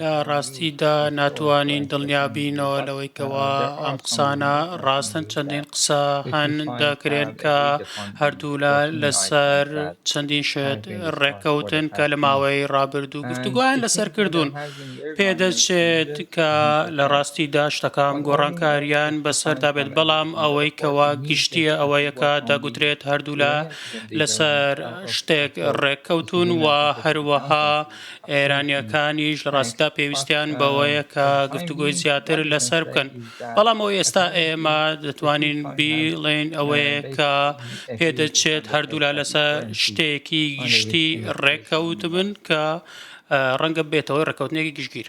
لە ڕاستیدا ناتوانین دڵنیا بینەوە لەوەی کەوا ئەم قسانە ڕاستن چەندین قسە هەن دەکرێن کە هەردوولا لەسەر چەندین شێت ڕێککەوتن کە لە ماوەی ڕابردوو گفتوگویان لەسەر کردوون پێدەچێت کە لە ڕاستیدا شتەکان گۆڕانکاریان بەسەردا بێت بەڵام ئەوەی کەوا گشتیە ئەوەیەکە دەگوترێت هەردوولا لەسەر شتێک ڕێککەوتوون و هەروەها ئێرانییەکانیش لەڕاستیدا پێویستیان بەوەیە کە گفتوگۆی زیاتر لەسەر بکەن. بەڵام ئەوەی ئێستا ئێمە دەتوانین بیڵێین ئەوەیە کە پێدەچێت هەردوولا لەسەر شتێکی گشتی ڕێککەوتبن کە ڕەنگە ببێتەوە ڕێککەوتنێکی گشتگیر.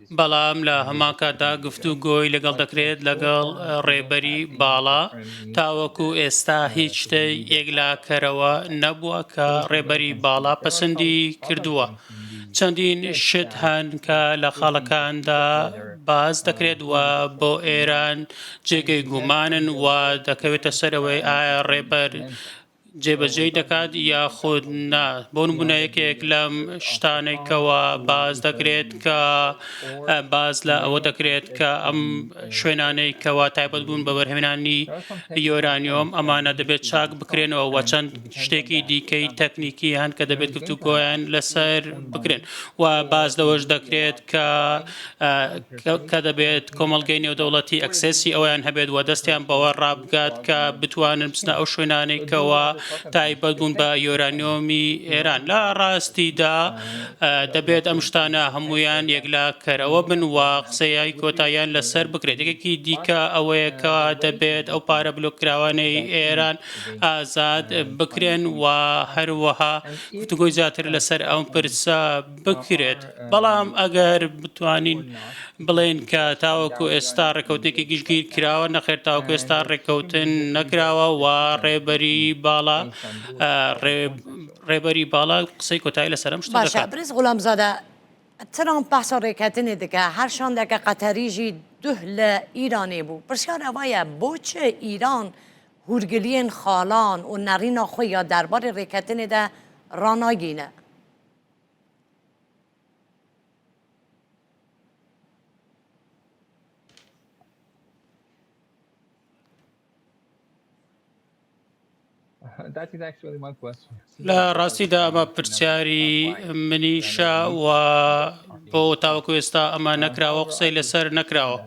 بەڵام لە هەمان کاتدا گفتوگۆی لەگەڵ دەکرێت لەگەڵ ڕێبەری باڵا، تاوەکو ئێستا هیچ شتێ یەکلاکەرەوە نەبووە کە ڕێبەری باڵا پەسەندی کردووە، چەندین شت هەن کە لە خاڵەکاندا باس دەکرێت و بۆ ئێران جێگەی گومانن و دەکەوێتە سەرەوەی ئایا ڕێبەر جێبەجێی دەکات یاخود نا بۆ نمونە یەکێک لەم شتانەی کەوا باز دەکرێت کە باز لە ئەوە دەکرێت کە ئەم شوێنانەی کەوا تایبەت بوون بە بەرهێنانی یۆرانیۆم ئەمانە دەبێت چاک بکرێنەوە وە چەند شتێکی دیکەی تەکنیکی هەن کە دەبێت گفتوگۆیان لەسەر بکرێن و باز لەوەش دەکرێت کە کە دەبێت کۆمەڵگەی نێودەوڵەتی ئەکسێسی ئەویان هەبێت و دەستیان بەوە ڕابگات کە بتوانن بچنە ئەو شوێنانەی کەەوە تایبەت بوون بە یۆرانیۆمی ئێران لە ڕاستیدا دەبێت ئەم شتانە هەمویان یەکلا کەرەوە بن و قسەیای کۆتاییان لەسەر بکرێت یەکێکی دیکە ئەوەیە کە دەبێت ئەو پارە بلوکراوانەی ئێران ئازاد بکرێن و هەروەها گفتگۆی زیاتر لەسەر ئەم پرسە بکرێت، بەڵام ئەگەر بتوانین بڵێین کە تاوەکو ئێستا ڕێککەوتنێکی گشتگیر کراوە، نەخێر تاوەکو ئێستا ڕێککەوتن نەکراوە و ڕێبەری باڵا ڕێبەری باڵا قسەی کۆتایی لەسەر ئەم شتە دەکات. بەرێز غولامزادە ترامپ باسە ڕێککەتنێ دکە هەر شاندەکە قەتەریژی دوه لە ئیرانێ بوو پرسیار ئەوەیە بۆ چ ئیران هورگلیێن خاڵان و نەڕینا خۆی یا دەربارەی ڕێککەتنێدا ڕاناگینە. لە ڕاستیدا ئەمە پرسیاری منیشە و بۆ تاوەکو ئێستا ئەمە نەکراوە قسەی لەسەر نەکراوە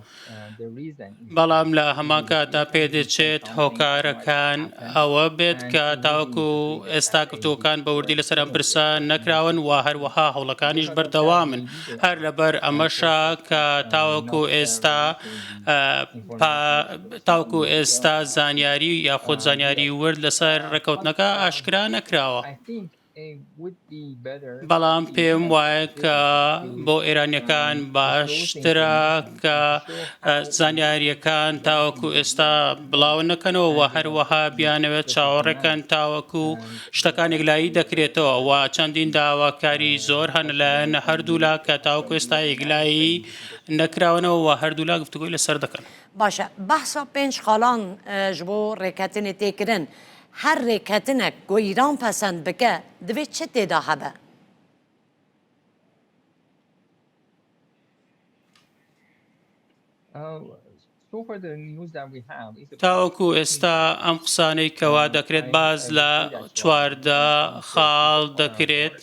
بەڵام لە هەمان کاتدا پێدەچێت هۆکارەکان ئەوە بێت کە تاوەکو ئێستا گفتوەکان بە وردی لەسەر ئەم پرسە نەکراون و هەروەها هەوڵەکانیش بەردەوامن هەر لەبەر ئەمەشا کە تاوەکو ئێستا تاوەکو ئێستا زانیاری یاخود زانیاری ورد لەسەر ڕێکەوتنەکە ئاشکرا نەکراوە. بەڵام پێم وایە کە بۆ ئێرانیەکان باشترە کە زانیاریەکان تاوەکو ئێستا بڵاو نەکەنەوە و هەروەها بیانەوێت چاوەڕێکەن تاوەکو شتەکانێک لایی دەکرێتەوە و چەندین داواکاری زۆر هەن لایەن هەردوولا کە تاوەکو ئێستا یەکلایی نەکراونەوە و هەردوولا گفتوگوی لەسەر دەکەن باشە بەحسا پێنج خاڵان ژبۆ ڕێکەتنی تێکردن. هەر رێککەتنەک بۆ ئیران پەسەند بکە دبێ چ تێدا هەبئ؟ تاوەکو ئێستا ئەم قسانەی کەوا دەکرێت باس لە چواردە خاڵ دەکرێت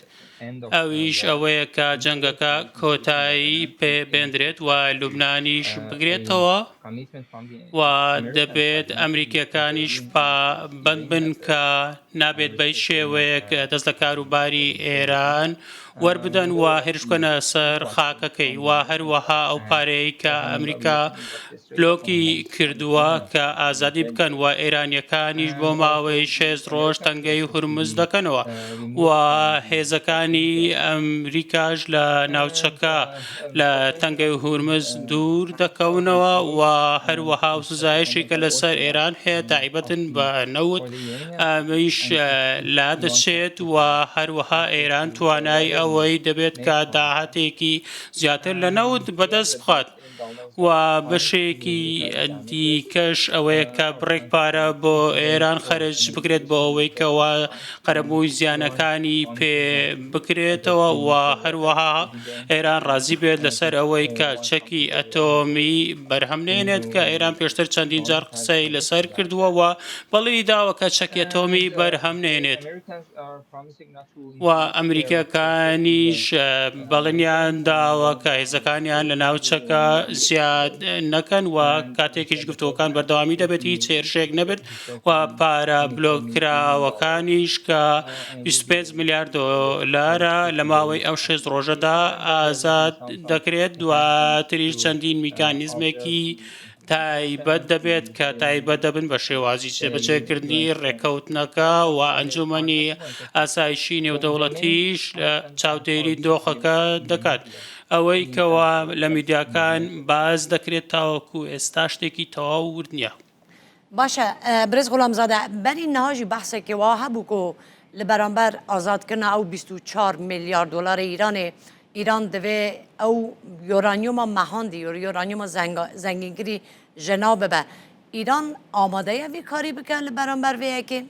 ئەویش ئەوەیە کە جەنگەکە کۆتایی پێ بێندرێت و لوبنانیش بگرێتەوە و دەبێت ئەمریکیەکانیش پابەند بن کە نابێت بە شێوەیەک دەست لە کاروباری ئێران وەربدەن و هێرش بکەنە سەر خاکەکەی و هەروەها ئەو پارەیە کە ئەمریکا لۆکی کردووە کە ئازادی بکەن و ئێرانییەکانیش بۆ ماوەی شێست ڕۆژ تەنگەی هورمز دەکەنەوە و هێزەکانی ئەمریکاش لە ناوچەکە لە تەنگەی هورمز دوور دەکەونەوە و هەروەها ئەو سزایەشی کە لەسەر ئێران هەیە تایبەتن بە نەوت ئەمەیش لادەچێت و هەروەها ئێران توانای ئەوەی دەبێت کە داهاتێکی زیاتر لە نەوت بەدەست بخات. و بەشێکی دیکەش ئەوەیە کە بڕێک پارە بۆ ئێران خەرج بکرێت بۆ ئەوەی کەوا قەرەبووی زیانەکانی پێ بکرێتەوە و هەروەها ئێران ڕازی بێت لەسەر ئەوەی کە چەکی ئەتۆمی بەرهەم نێنێت کە ئێران پێشتر چەندین جار قسەی لەسەر کردووە و بەڵی داوە کە چەکی ئەتۆمی بەرهەم نێنێت. و ئەمریکییەکانیش بەڵێنیان داوە کە هێزەکانیان لە ناوچەکە زیاد نەکەن و کاتێکیش گفتوگۆکان بەردەوامی دەبێت هیچ هێرشێک نەبێت و پارە بلۆککراوەکانیش کە 25 ملیار دۆلارە لە ماوەی ئەو شێست ڕۆژەدا ئازاد دەکرێت دواتریش چەندین میکانیزمێکی تایبەت دەبێت کە تایبەت دەبن بە شێوازی جێبەجێکردنی ڕێککەوتنەکە و ئەنجومەنی ئاسایشی نێودەوڵەتیش چاودێری دۆخەکە دەکات. ئەوەی کەوا لە میدیاکان باس دەکرێت تاوەکو ئێستا شتێکی تەواو ورد نییە. باشە برێز غولام زادە بەری نهاژی بەحسێ کێ وە هەبوو کۆ لە بەرامبەر ئازاد کردنە ئەو بیست و چوار ملیار دۆلارە ئیرانێ ئیران دەێ ئەو یۆرانیۆمە مەهاندی یۆر یۆرانیۆمە زەنگینکری ژەنا ببە. ئیران ئامادەیە بێ کاری بکە لە بەرامبەر وەیەکێ؟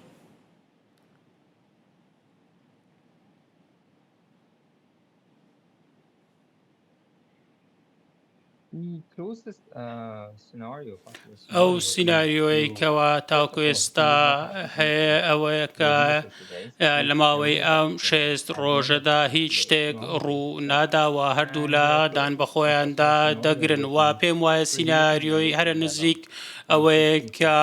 ئەو سینناریۆی کەوا تاکو ئێستا هەیە ئەوەیە کە لە ماوەی ئەم شێست ڕۆژەدا هیچ شتێک ڕوو ناداوە هەردوو لە دان بە خۆیاندا دەگرن و پێم وایە سینناریۆی هەرە نزیک ئەوەیە کە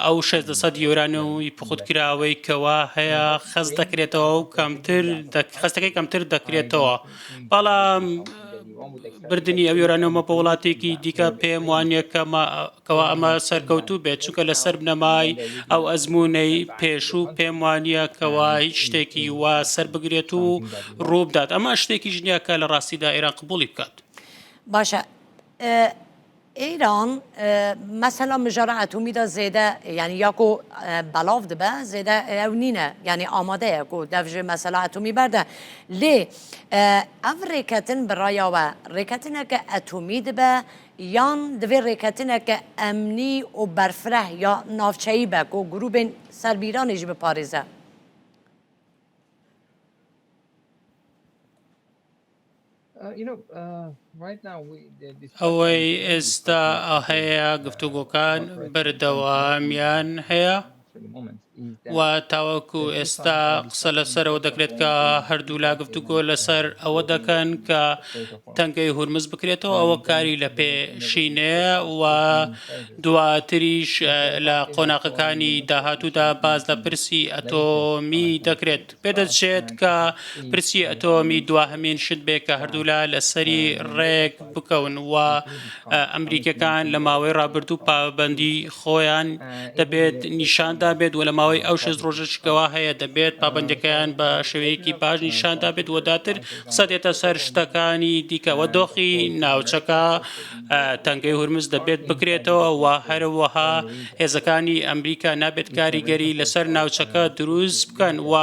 ئەو شێ دەسەد یۆرانەوەی پخوتکراوەی کەوا هەیە خەست دەکرێتەوە و کەمتر خەستەکەی کەمتر دەکرێتەوە. بەڵام بردننی ئەو یۆرانۆمە بە وڵاتێکی دیکە پێم وانە کەەوە ئەمە سەرکەوتوو بێت چونکە لەسەر بنەمای ئەو ئەزمونەی پێشوو پێم وانە کەەوە هیچ شتێکی وا سەر بگرێت و ڕووبدات ئەمە شتێکی ژنیاکە لە ڕاستیدا ئێران قبولی بکات باشە ئیران مەسەلا مژارە ئەتومی دا زێدە یانی یاکۆ بەڵاو دبە زێدە ئەو نینە یانی ئامادەیە کۆ دەفژێ مەسەلا ئەتومی بەردە لێ ئەف ڕێکەتن بڕایاوە ڕێکەتنەکە ئەتومی دبە یان دەێ ڕێکەتنەکە ئەمنی و بەرفرە یا ناوچەیی بە کۆ گروبێن سەربیرانیش بپارێزە. ئەوەی ئێستا هەیە گفتوگۆکان بەردەوامیان هەیە و تاوەکو ئێستا قسە لەسەرەوە دەکرێت کە هەردوولا گفتوگۆ لەسەر ئەوە دەکەن کە تەنگەی هورمز بکرێتەوە ئەوە کاری لە پێشینەیە و دواتریش لە قۆناقەکانی داهاتوودا باز لە پرسی ئەتۆمی دەکرێت. پێدەچێت کە پرسی ئەتۆمی دواهەمین شت بێ کە هەردوولا لەسەری ڕێک بکەون و ئەمریکەکان لە ماوەی ڕابردوو پابەندی خۆیان دەبێت نیشاندا بێت و لە ماوەی ئەو شەست ڕۆژەشکەوە هەیە دەبێت پابەندەکەیان بە شێوەیەکی باش نیشاندا بێت و داتر قسە دێتە سەر شتەکانی دیکەوە دۆخی ناوچەکە تەنگەی هورمز دەبێت بکرێتەوە و هەروەها هێزەکانی ئەمریکا نابێت کاریگەری لەسەر ناوچەکە دروست بکەن و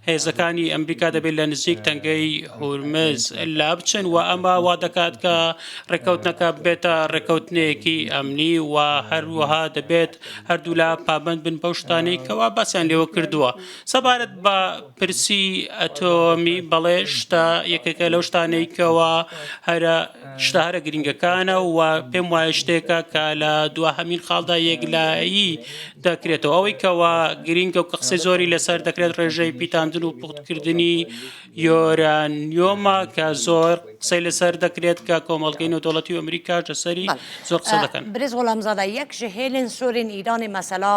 هێزەکانی ئەمریکا دەبێت لە نزیک تەنگەی هورمز لابچن و ئەمە وا دەکات کە ڕێکەوتنەکە بێتە ڕێکەوتنێکی ئەمنی و هەروەها دەبێت هەردوولا پابند بن بەو شتانەی کەوا باسیان لێوە کردووە سەبارەت بە پرسی ئەتۆمی، بەڵێ شتە یەکێکە لەو شتانەی کەوا هەرە شتە هەرە گرنگەکانە و پێم وایە شتێکە کە لە دواهەمین خاڵدا یەکلایی دەکرێتەوە ئەوەی کەوا گرنگە و کە قسەی زۆری لەسەر دەکرێت ڕێژەی پیتاندن و پوختکردنی یۆرانیۆمە کە زۆر قسەی لەسەر دەکرێت کە کۆمەڵگەی نەودەوڵەتی و ئەمریکاش لەسەری زۆر قسە دەکەن. برێز غولامزادە، یەک ژە هێلێن سۆرێن ئیرانێ مەسەلا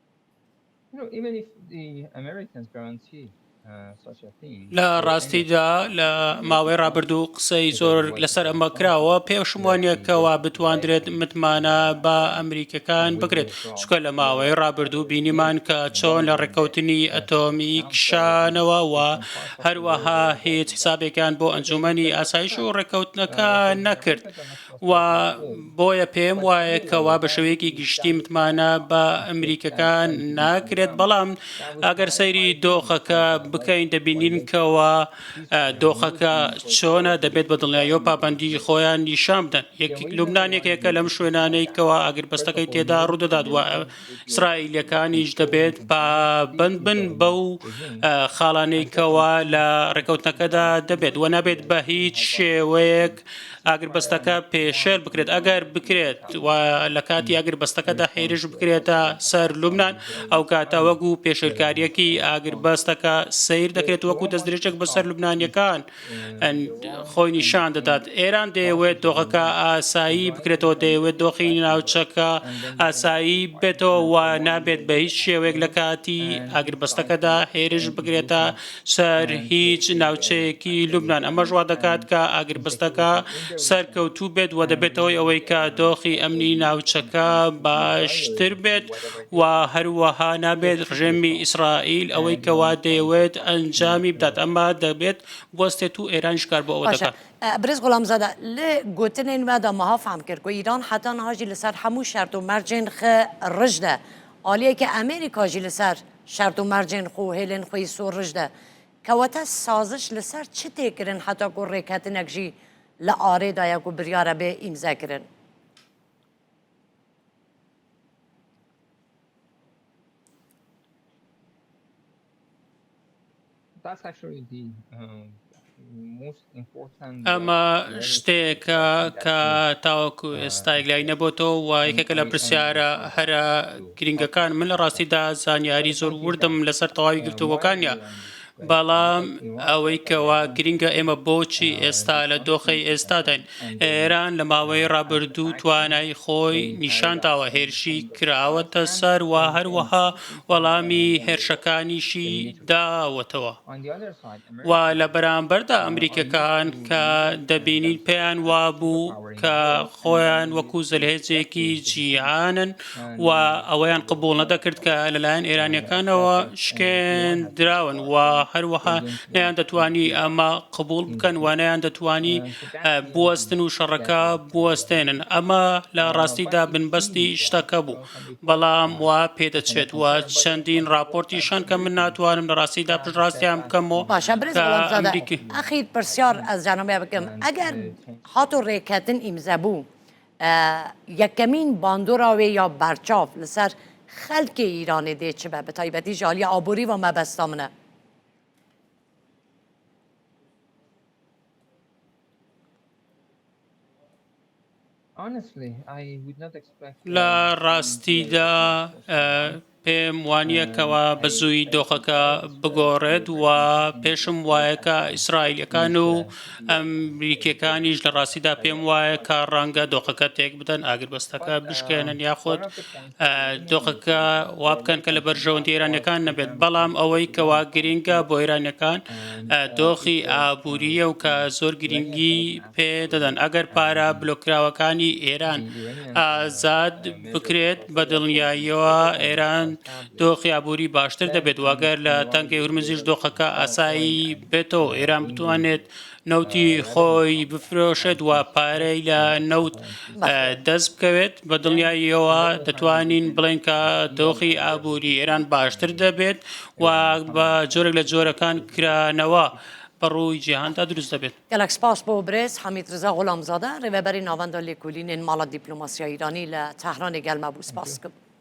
لە ڕاستیدا لە ماوەی ڕابردوو قسەی زۆر لەسەر ئەمە کراوە پێشم وانە کەوا بتواندرێت متمانە بە ئەمریکەکان بکرێت چکە لە ماوەی ڕابردوو بینیمان کە چۆن لە ڕێککەوتنی ئەتۆمی کشانەوە و هەروەها هیچ حسابێکان بۆ ئەنجومەنی ئاسایش و ڕێککەوتنەکە نەکرد و بۆیە پێم وایە کەوا بە شێوەیەکی گشتی متمانە بە ئەمریکەکان ناکرێت، بەڵام ئەگەر سەیری دۆخەکە بکەین دەبینین کەوا دۆخەکە چۆنە دەبێت بە دڵنیاییەوە پابەندی خۆیان نیشان بدەن. یەک لوبنان یەکێکە لەم شوێنانەی کەوا ئاگربەستەکەی تێدا ڕوودەدات و ئیسرائیلیەکانیش دەبێت پابەند بن بەو خاڵانەی کەوا لە ڕێکەوتنەکەدا دەبێت و نابێت بە هیچ شێوەیەک ئاگربەستەکە پێشێل بکرێت، ئەگەر بکرێت و لە کاتی ئاگربەستەکەدا هێرش بکرێتە سەر لوبنان، ئەو کاتە وەکو پێشێلکارییەکی ئاگربەستەکە سەیر دەکرێت، وەکو دەستدرێژێک بەسەر لوبنانییەکان خۆی نیشان دەدات. ئێران دەیەوێت دۆخەکە ئاسایی بکرێتەوە، دەیەوێت دۆخی ناوچەکە ئاسایی بێتەوە و نابێت بە هیچ شێوەیەک لە کاتی ئاگربەستەکەدا هێرش بکرێتە سەر هیچ ناوچەیەکی لوبنان، ئەمەش وا دەکات کە ئاگربەستەکە سەرکەوتوو بێت و دەبێتە هۆی ئەوەی کە دۆخی ئەمنی ناوچەکە باشتر بێت و هەروەها نابێت ڕژێمی ئیسرائیل ئەوەی کە وا دەیەوێت ئەنجامی بدات، ئەمە دەبێت بوەستێت و ئێرانیش کار بۆ ئەوە باشە دەکات. برێز غولامزادە، لە گوتنێن مە دا مە ها فام کرد کو ئیران حەتا نها ژی لە سەر هەموو شەرت و مەرجێن خە رج دە، ئالیە کە ئەمێریکا ژی لە سەر شارت و مارجێن خو هێلێن خوەی سوو رژدە کە وەتا سازش لە سار چ تێ کرن حەتا گوو رێکەتنەک ژی لە ئارێ دایە گوو بریارە بێ ئیمزا کرن. ئەمە شتێکە کە تاوەکو ئێستا لای نەبتەوە و یەکێکە لە پرسیارە هەرە گرنگەکان من لە ڕاستیدا زانیاری زۆر وردم لەسەر تەواوی گرتووەکانە بەڵام ئەوەی کەوا گرنگە ئێمە بۆچی ئێستا لە دۆخی ئێستاداین ئێران لە ماوەی ڕابردوو توانای خۆی نیشانداوە هێرشی کراوەتە سەر و هەروەها وەڵامی هێرشەکانیشی داوەتەوە و لە بەرامبەردا ئەمریکیەکان کە دەبینین پێیان وابوو کە خۆیان وەکو زلهێزێکی جیهانن و ئەوەیان قبول نەدەکرد کە لەلایەن ئێرانیەکانەوە شکێندراون و هەروەها نیان دەتوانی ئەمە قبول بکەن و نیان دەتوانی بوەستن و شەڕەکە بوەستێنن ئەمە لە ڕاستیدا بنبەستی شتەکە بوو بەڵام وا پێدەچێت و چەندین ڕاپۆرتیش هەن کە من ناتوانم لە ڕاستیدا پشتڕاستیان بکەمەوە باشە برێز کە وەڵام زادە ئەمریکی ئەخی پرسیار ئەز جانم بێ بکەم ئەگەر هاتۆ ڕێکەتن ئیمزە بوو ئە، یەکەمین باندۆراوێ یا بەرچاو لەسەر خەلکێ ئیرانێ دێ چ بە بە تایبەتی ژالی ئابووری وە مەبەستا منە. لە ڕاستیدا پێم وانیە کەوا بە زووی دۆخەکە بگۆڕێت و پێشم وایە کە ئیسرائیلەکان و ئەمریکیەکانیش لە ڕاستیدا پێم وایە کە ڕەنگە دۆخەکە تێک بدەن ئاگربەستەکە بشکێنن یاخود دۆخەکە وا بکەن کە لە بەرژەوەندی ئێرانییەکان نەبێت، بەڵام ئەوەی کە وا گرینگە بۆ ئێرانییەکان دۆخی ئابوورییە و کە زۆر گرینگی پێ دەدەن. ئەگەر پارە بلۆککراوەکانی ئێران ئازاد بکرێت، بە دڵنیاییەوە ئێران دۆخی ئابووری باشتر دەبێت و ئەگەر لە تەنگەی هورمزیش دۆخەکە ئاسایی بێتەوە و ئێران بتوانێت نەوتی خۆی بفرۆشێت و پارەی لە نەوت دەست بکەوێت بە دڵنیاییەوە دەتوانین بڵێن کە دۆخی ئابووری ئێران باشتر دەبێت و بە جۆرێک لە جۆرەکان کرانەوە بەڕووی جیهاندا دروست دەبێت. گەلەک سپاس بۆ برێز حەمید رزا غولامزادە رێوێبەری ناوەندە لێکولینێن ماڵە دیپلۆماسیا ئیرانی لە تەهرانێ گەلمە بوو سپاس.